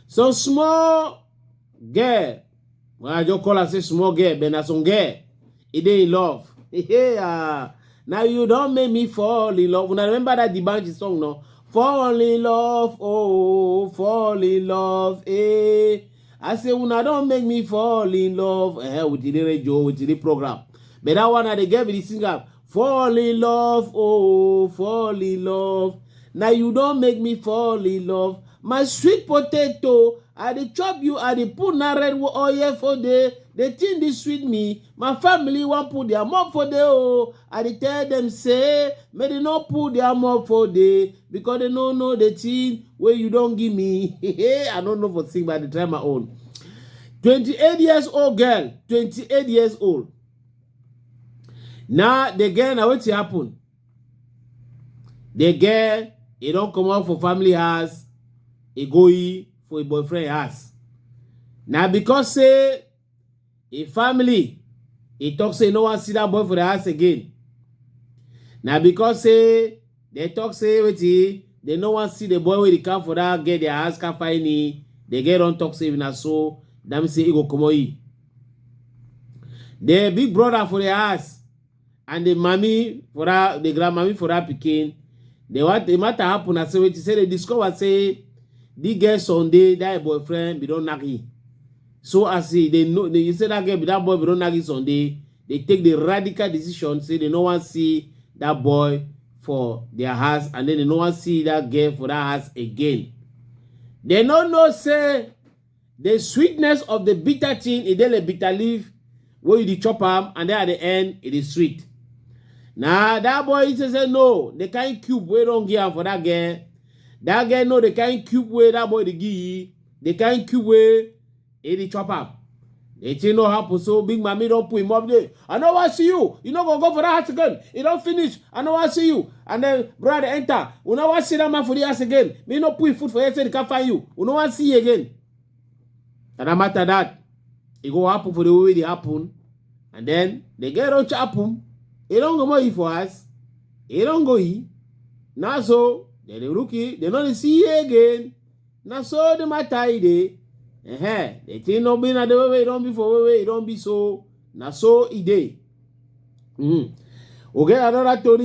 So small girl, when I just call her say small girl, but na some girl, e dey in love. Hey, uh, now you don't make me fall in love. When I remember that the Banji song, no? Fall in love, oh, fall in love, eh. I say una don make me fall in love eh, with the radio, with the program. But that one I dey get with the singer. Fall in love, oh, fall in love. Now you don make me fall in love. My sweet potato, I dey chop you, I dey put na red oil for there. The thing dey sweet me. My family wan put their mouth for there, oh. I dey tell them say, make they no put their mouth for there. because they no know the thing where you don't give me. I don't know for thing, but I dey try my own. 28 years old girl, 28 years old. Now the girl, now what happen? The girl, he don't come out for family house, he go for a boyfriend house. Now because say im family e talk say e no wan see that boy for the house again na because say dem talk say wetin dem no wan see the boy wey dey come for that girl their house come find ni the girl don talk say if na so that mean say e go comot e the big brother for the house and the mami for that the grandmami for that pikin the what the matter happen na say wetin say they discover say the girl sunday that boyfriend be don knack him so as he they know they say that girl be that boy be don knack him sunday they take the radical decision say they no wan see that boy for their house and then they no wan see that girl for that house again they no know say The sweetness of the bitter thing, e dey like bitter leaf wey you dey chop am and then at the end, e dey sweet. Na that boy he say say no, the kind cube wey don give am for that girl, that girl know the kind cube wey that boy dey give, the kind cube wey e dey chop am. The thing no happen, so big mommy don put him up there. I no wan see you. You no go go for that house again. You don finish. I no wan see you. And then brother enter. We no wan see that man for the house again. Me no put him food for here so he can find you. We no wan see you again. And no matter that, it go happen for the way it happen. And then the girl don't happen. He don't go more for us. He don't go he. Now so, then the rookie, they don't see you again. na so the matter e dey uh-huh. the thing no be na the way wey e don be for way wey e don be so na so e dey mm. we get another tori